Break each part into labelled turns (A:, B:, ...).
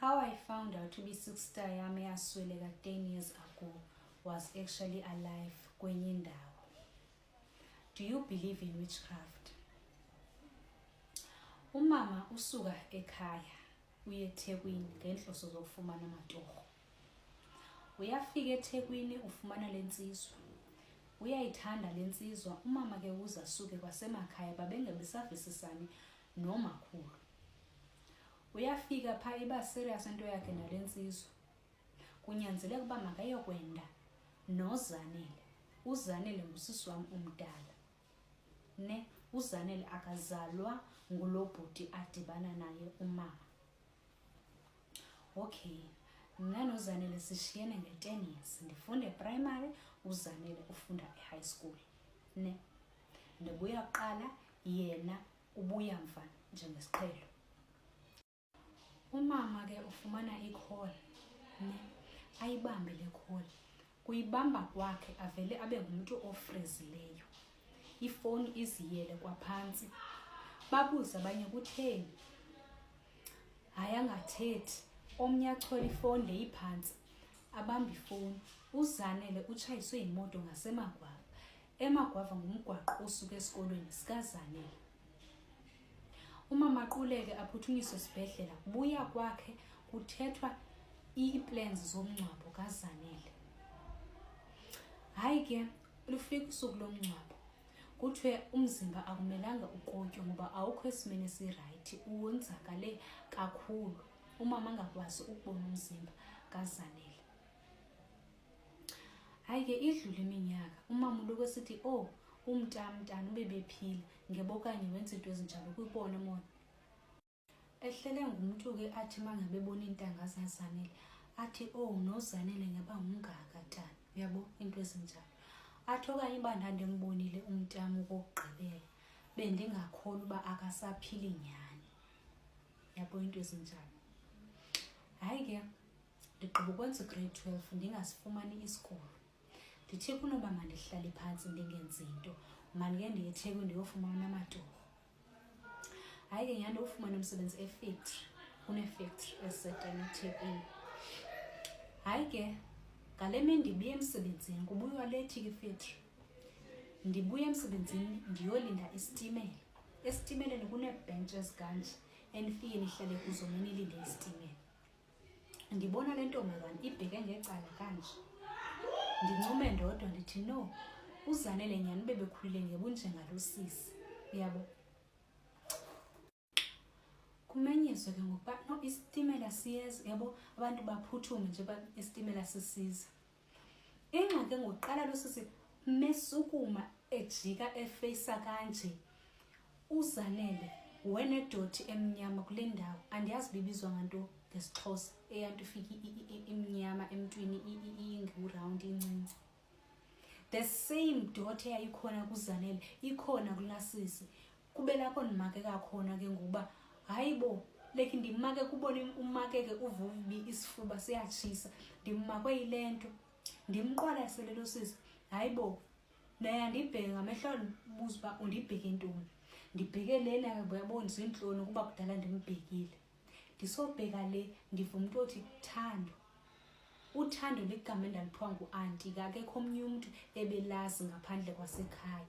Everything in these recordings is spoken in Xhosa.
A: How I found out to be sister yam eyasweleka 10 years ago was actually alive kwenye indawo. Do you believe in witchcraft? Umama usuka ekhaya uye eThekwini ngenhloso zokufumana amatorho. Uyafika eThekwini ufumana lensizwa. Uyayithanda lensizwa, umama ke uza suke kwasemakhaya babengebesavisisani nomakhulu uyafika phaa iba serious into yakhe nale ntsizwa kunyanzeleka uba makayokwenda nozanele uzanele ngusisi wam umdala ne uzanele akazalwa ngulo bhuti adibana naye umama okay mna nozanele sishiyene nge-ten years ndifunde eprimary uzanele ufunda ehigh school ne ndibuya kuqala yena ubuya mva njengesiqhelo umama ke ufumana ikholi ne ayibambe le kholi kuyibamba kwakhe avele abe ngumntu ofrizileyo ifowuni iziyele kwaphantsi babuze abanye kutheni hayi angathethi omnye achola ifowuni leyiphantsi abamba ifowuni uzanele utshayiswe yimoto ngasemagwaba emagwava ngumgwaqo osuka esikolweni sikazanele umama quleke aphuthunyiswe esibhedlela buya kwakhe kuthethwa ii-plans zomngcwabo kazanele hayi ke lufika usuku lomngcwabo kuthiwe umzimba akumelanga ukotywe ngoba awukho esimeni esirayithi uwonzakale kakhulu umama angakwazi ukubona umzimba kazanele hayi ke idlula iminyaka umama uloko esithi o oh, umntamntana ube bephile ngeba okanye wenza iinto ezinjalo kwibona mona ehlele ngumntu ke athi mangabebona iintanga zazanele athi o oh, nozanele ngeba ngumngaka tana uyabo iinto ezinjalo athi okanye uba ndandimbonile umntam ukokugqibela bendingakholwa uba akasaphili nyhani yabo iinto ezinjalo hayi ke ndigqiba ukwenza ugrade twelve ndingasifumani isikolo ndithe kunoba mandihlale phantsi ndingenzi nto mandike ndiye ethekwini ndiyofumana amatorho hayi ke nyhani ufumane umsebenzi efactory kunefactory esetena ethekwini hayi ke ngale mini ndibuye emsebenzini kubuywa lethi ke ifactory ndibuye emsebenzini ndiyolinda isitimela esitimeleni kuneebhentshi ezikanje enifike nihlale kuzo nenilinde isitimela ndibona le ntombazana ibheke ngecala kanje ndincume ndodwa ndithi no uzanele nyhani ube bekhulile ngebunjengalo sisi uyabo kumenyezwe ke ngokuba no isitimela siyeza yabo abantu baphuthume nje esitimela sisiza ingxaki ngokuqala losisi mesukuma ejika efeyisa kanje uzanele wenedoti emnyama kule ndawo andiyazi bibizwa nganto ngesixhosa eyanto ifike imnyama emntwini ingiwurawundi incinci the same doti eyayikhona kuzanele ikhona kulasisi kube lapho ndimakeka khona ke ngokuba hayi bo like ndimake kubona umakeke uvubi isifuba siyatshisa ndimakwe yile nto ndimqwalasele lo sisi hayi bo naye andibheke ngamehlo buza uba undibheke ntoni ndibheke lena yabona ziintloni ukuba kudala ndimbhekile ndisobheka le ndiva umntu othi thando uthando ligama endaliphiwa ngu-anti kakekho omnye umntu ebelazi ngaphandle kwasekhaya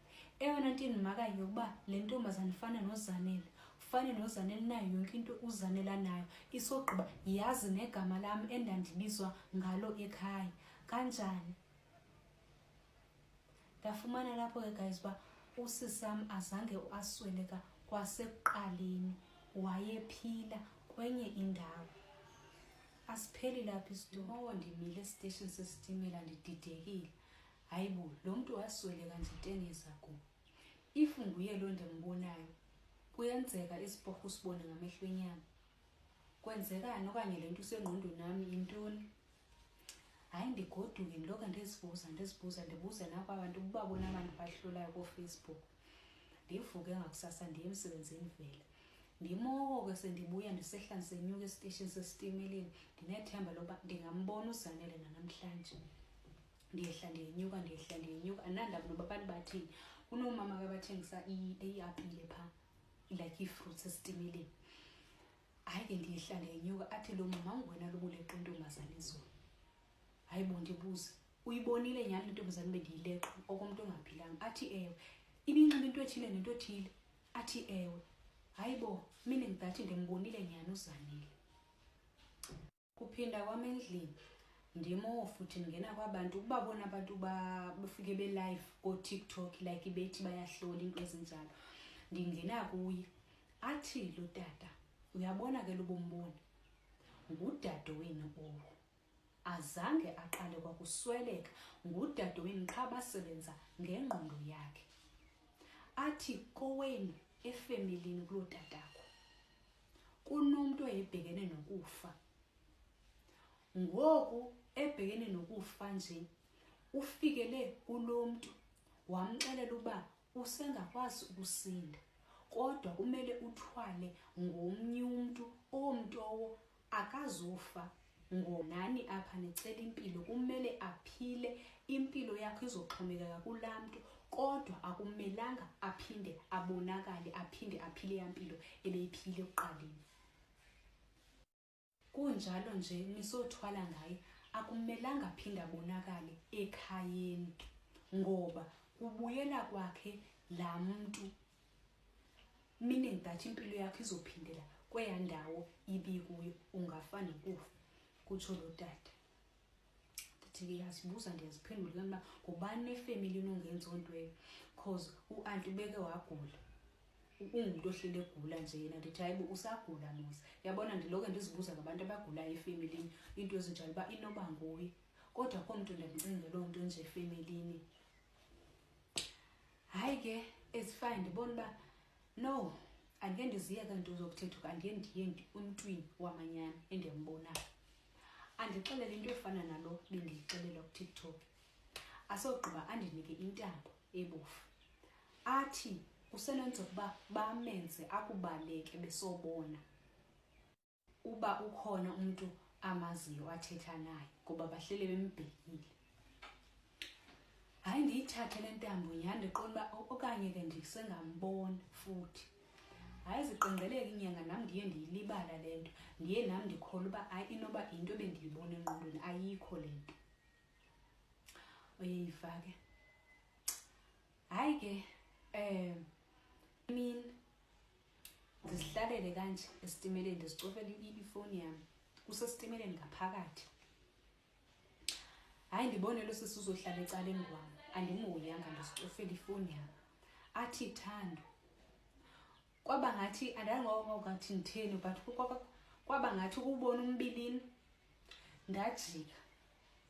A: eyona nto indimakayo yokuba le ntombazana ifana nozanele ufane nozanele nayo yonke into uzanela nayo isogqiba yazi negama lam endandibizwa ngalo ekhaya kanjani ndafumana lapho ke guys uba usisam azange asweleka kwasekuqaleni wayephila kwenye indawo asipheli lapho isitumo ndimile esiteshini sesitimela ndididekile hayi bo lo mntu waswele kanje tengeza ku if nguye loo ndimbonayo kuyenzeka isiporho usibone ngamehlo enyama kwenzekani okanye le nto usengqondweni nami yintoni hayi ndigoduke ndiloke ndizibuza ndizibuza ndibuze nakwa bantu uba bona abantu bahlulayo koofacebook ndivuke ngakusasa ndiye emsebenzini vele ndimoko ke sendibuya ndisehla ndisenyuka esiteshini sesitimeleni ndinethemba loba ndingambona uzanele nanamhlanje ndiyehla ndiyenyuka ndiyehla ndiyenyuka andinandaba noba abantu bathini kunoomama ke bathengisa iapile phaa like ii-fruits esitimeleni hayi ke ndiyehla ndiyenyuka athi lo mama ungwena lobuleqa intombazane izulu hayi bo ndibuze uyibonile nyhani lentombazane bendiyileqa okomntu ongaphilanga athi ewe ibinxiba into ethile nento ethile athi ewe hayi bo mine ngidathi ndimbonile nyhani uzanile kuphinda kwam endlini ndimo futhi ndingena kwabantu ukuba bona abantu bafike belive kootiktok like bethi bayahlola into ezinjalo ndingena kuye athi lo tata uyabona ke lobombona ngudade wenu owo azange aqale kwakusweleka ngudade wenu qha basebenza ngengqondo yakhe athi kowenu efemilini kuloo tatakho kunomntu oyebhekene nokufa ngoku ebhekene nokufa nje ufikele kulo mntu wamxelela uba usengakwazi ukusinda kodwa kumele uthwale ngomnye umntu omntowo akazufa ngonani apha nicela impilo kumele aphile impilo yakho izoxhomekeka kulaa mntu kodwa akumelanga aphinde abonakale aphinde aphile yampilo ebeyiphile ekuqaleni kunjalo nje nisothwala ngaye akumelanga aphinde abonakale ekhayeni ngoba kubuyela kwakhe laa mntu meaning that impilo yakho izophindela kweya ndawo ibikuyo ungafane kufa kutsho lo tata ndithi ndiyazibuza ndiyaziphendula kanba ngubani nefemeli inongenza onto eyo cause uanti ubeke wagula ungumntu ohlele egula nje yena ndithi hayibo usagula mos yabona ndiloke ndizibuza ngabantu abagulayo efemelini into ezinjalo uba inoba nguye kodwa komntu ndimcingela loo nto nje efemelini hayi ke ezifane ndibona uba no andike ndiziye kanti uzokuthetha uba andiye ndiye umntwini wamanyana endiyambonayo andixelele into efana nalo bendiyixelela kutiktok asogqiba andinike intambo ebofu athi kusenenza ukuba bamenze akubaleke besobona uba ukhona umntu amaziyo athetha naye ngoba bahlele bembhekile hayi ndiyithathe le ntambo yandiqona uba okanye ke ndisengambona futhi hayi ziqengeleke inyanga nam ndiye ndiyilibala le nto ndiye nam ndikhola uba hayi inoba yinto ebendiyibona enqondweni ayikho le nto oyeyiva ke hayi ke um imini ndizihlalele kanje esitimeleni ndizicofele ifowuni yam kusesitimeleni ngaphakathi hayi ndibone lo sisi uzohlala ecaleni kwam andimhoyanga ndizicofele ifowuni yam athi thando kwaba ngathi andangokathi nditheni but kwaba ngathi ukubona umbilini ndajika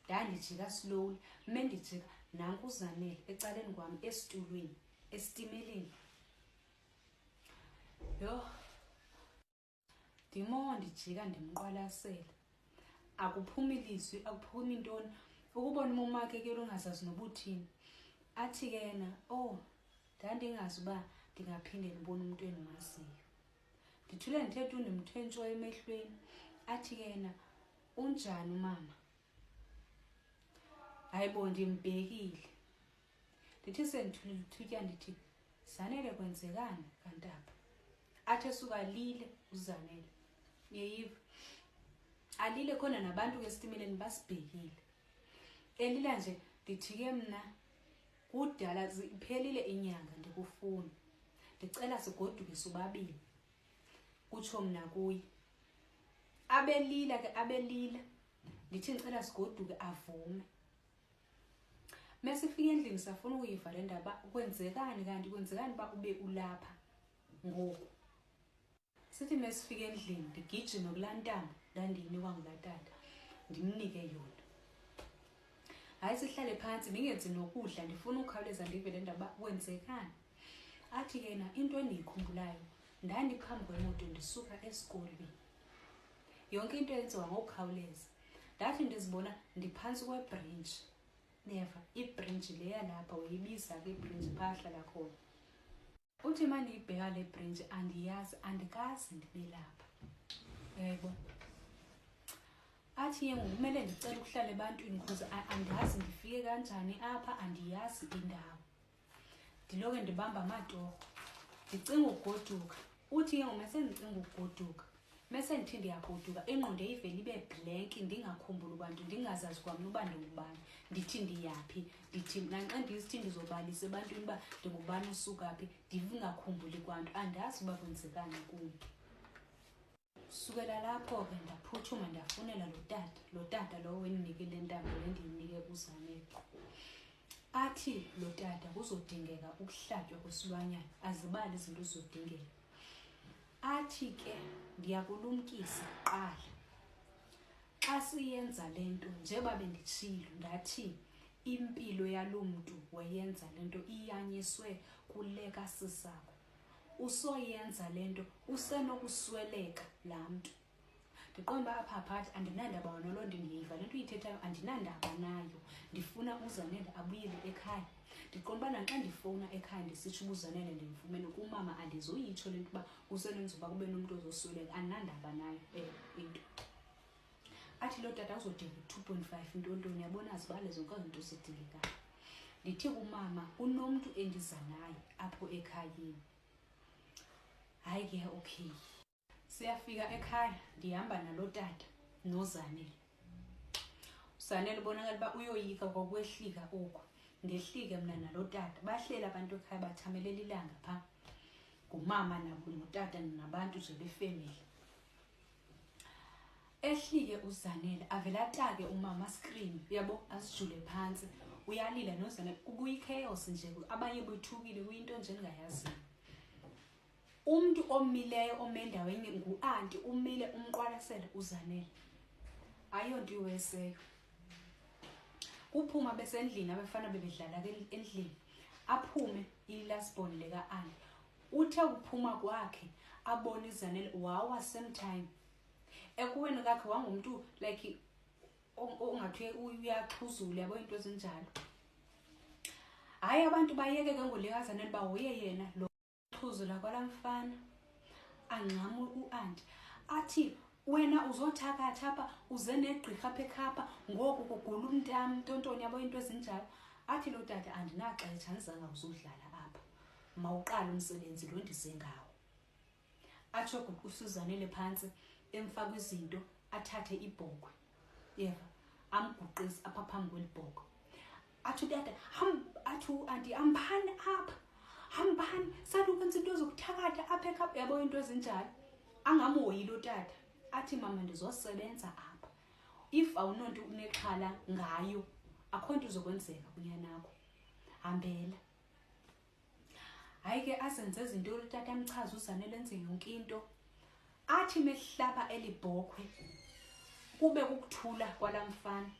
A: ndandijika slowly me ndijika nankuzanele ecaleni kwam esitulweni esitimeleni yho ndimo ndijika ndimqwalasele akuphumi lizwi akuphumi ntoni ukubona umomakhe ke lungazazi nobuthini athi ke yena o oh, ndandingazi uba ndingaphinde ndibona umntu endimaziyo ndithule ndithetha undimthe ntsho emehlweni athi ke yena unjani umama hayi bo ndimbhekile ndithi sendithulile uthutya ndithi zanele kwenzekani kantapha athi esuka lile uzanele niyeyiva alile khona nabantu ke esitimeleni basibhekile elila nje ndithi ke mna kudala iphelile inyanga ndikufuni ndicela sigoduke sobabini kutsho mna kuye abelila ke abelila ndithi ndicela sigoduke avume mesifika endlini safuna ukuyiva le ndaba kwenzekani kanti kwenzekani uba ube ulapha ngoku sithi mesifika endlini ndigijime kulaa ntambo ndandiyinikwa ngulaa tata ndimnike yona hayi sihlale phantsi ndingenzi nokudla ndifuna ukhawuleza ndive le ndaba kwenzekani athi yena into endiyikhumbulayo ndandiphambi kwemoto ndisuka esikolweni yonke into yenziwa ngokukhawuleza ndathi ndizibona ndiphantsi kwebhrintshi neva ibhrintshi le yalapha uyibiza ke ibhrintshi phahla lakhona uthi ma ndiyibheka le bhrintshi andiyazi andikazi ndibe lapha yebo athi ye ngokumele ndicela ukuhlala ebantwini because andazi ndifike kanjani apha andiyazi indawo ndiloke ndibamba amatorho ndicinga ukugoduka uthi ke ngoma sendicinga ukugoduka mese ndithi ndiyagoduka ingqondo eyivele ibe blank ndingakhumbuli kwanto ndingazazi kwamna uba ndingubani ndithi ndiyaphi ndithi nanxa ndisithi ndizobalisa ebantwini uba ndingubani usuka phi ndingakhumbuli kwanto andazi uba kwenzekani kumntu sukela lapho ke ndaphuthuma ndafunela lo tata lo tata lowo endinike le ntambo le ndiyinike kuzaneqo athi lo tata kuzodingeka ukuhlatywa kwesilwanyana azibali izinto zizodingeka athi ke ndiyakulumkisa kuqala xa siyenza le nto njeba benditshilo ndathi impilo yalo mntu wayenza le nto iyanyiswe kule kasisakho usoyenza le nto usenokusweleka laa mntu ndiqonda uba apha phathi andinandaba wona loo nto ndiyiva le nto uyithethayo andinandaba nayo ndifuna uzanele abuyele ekhaya ndiqonda uba naxa ndifowuna ekhaya ndisitsho uba uzanele ndimfumene kumama andizoyitsho le nto uba usenenza uba kube nomntu ozosweleka andinandaba nayo um into athi loo tata uzodinga u-two point five intontoni yabona azibale zonke zinto zidingekayo ndithi kumama unomntu endiza naye apho ekhayeni hayi ke okay siyafika ekhaya ndihamba naloo tata nozanele usanele ubonakala uba uyoyika kwakwehlika oku ngehlike mna nalo tata bahleli abantu ekhaya bathamelela ilanga phaa ngumama nabo notata nabantu nje befemeli ehlike uzanele avele atake umama screen yabo asijule phansi uyalila nozanele kubuye ichaos nje abanye bethukile kuyinto nje ningayaziyo umuntu omileyo omendaweni nguanti umile umqwalasele uzanele ayonto iweseyo kuphuma besendlini abafana bebedlala endlini aphume ilasbon leka-ani uthe ukuphuma kwakhe abona izanele wawa same time ekuweni kakhe wangumntu like ongathi uyaxhuzula yabo iinto ezinjalo hayi abantu bayeke ke ngolekazanele uba hoye yena lo xhuzula kwala mfana angxama uanti athi wena uzothakatha apha uze negqirha apha ekhapha ngoku kugula umntam ntontoni yabo iinto ezinjalo athi lo tata andinaxetsha ndizangawuzudlala mawuqale umsebenzi lo ndize ngawo atsho guqe usuzanele phantsi emfaka izinto athathe ibhokwe yeva amguqise apha phambi kweli bhokwe athi utata athi uanti hambani apha hambani sathi ukwenza into zokuthakatha apha ekhapha yabo into ezinjalo angamhoyile utata athi mama ndizosebenza apha if awunonto unexhala ngayo akho nto uzokwenzeka kunyanakho hambela hayi ke azenze izinto olutata amchaza uzane lenze yonke into athi mehlaba eli bhokhwe kube kukuthula kwala mfana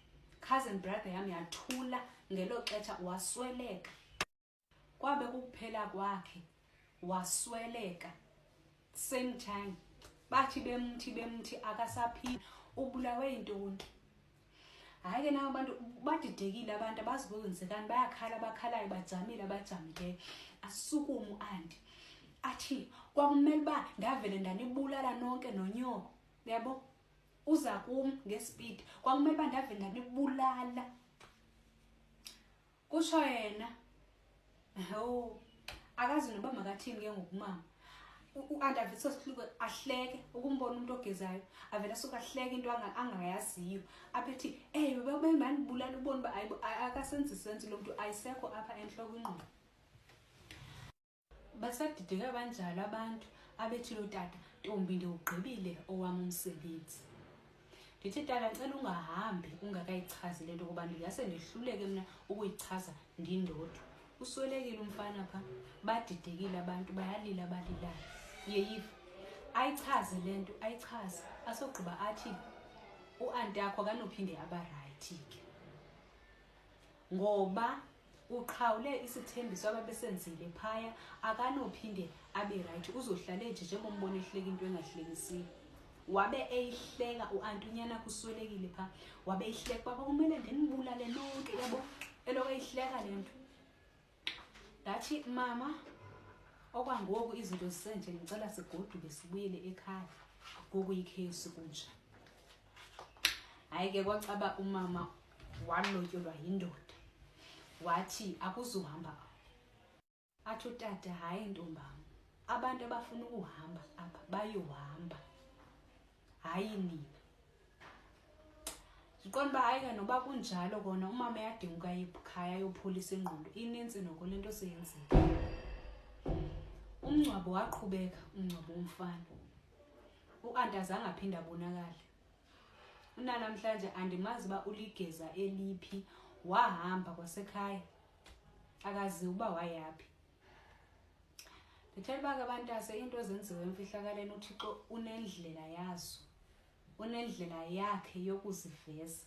A: cousin brother yam yathula ngelo xetsha wasweleka kwabe kukuphela kwakhe wasweleka same time bathi bemthi bemthi akasaphili ubulawe yintoni hayi ke nawo abantu badidekile abantu abazi kwenzekani bayakhala abakhalayo bajamile abajamileyo asukumu andi athi kwakumele uba ndavele ndanibulala nonke nonyoko yabo uza kum ngespeed kwakumele uba ndavele ndanibulala kutsho yena o akazi noba makathini ke ngokumama u-andaviso sihluko ahleke ukumbona umntu ogezayo avele asuke ahleke into angayaziyo aphethi ey bebemandibulala ubona uba akasenzi senzi lo mntu ayisekho apha entloko ingqondo basadideka banjalo abantu abethi lo tata ntombi ndiwugqibile owam umsebenzi ndithi tata ndicela ungahambi ungakayichazi le nto kuba ndingase ndihluleke mna ukuyichaza ndindodwa uswelekile umfana pha badidekile abantu bayalila abalilayo yeyiva ayichaze le nto ayichaze asogqiba athi uanti akho akanophinde abarayithi ke ngoba uqhawule isithembiso ababesenzile phaya akanophinde abe rayithi uzohlale nje njengombona ehleka into engahlekisiyo wabe eyihleka u-anti unyana kuswelekile phaa wabe eyihleka uba kwakumele ndinibulale lonke yabo eloko eyihleka le nto ndathi mama okwangoku izinto zisenje ndicela sigoduke sibuyele ekhaya ngoku yikhesi kunjani hayi ke kwacaba umama walotyolwa yindoda wathi akuzuhamba athi utata hayi ntombam abantu abafuna ukuhamba apha bayohamba hayi nina ndiqonda uba hayi ke noba kunjalo kona umama yadinguka ikhaya ayopholisa ingqondo inintsi noko le nto seyenzile umngcwabo waqhubeka umngcwabo womfana uanti azange aphinde abonakale unanamhlanje andimazi uba uligeza eliphi wahamba kwasekhaya akazi uba wayaphi ndithela uba ke abantase iinto ezenziwe emfihlakaleni uthixo unendlela yazo unendlela yakhe yokuziveza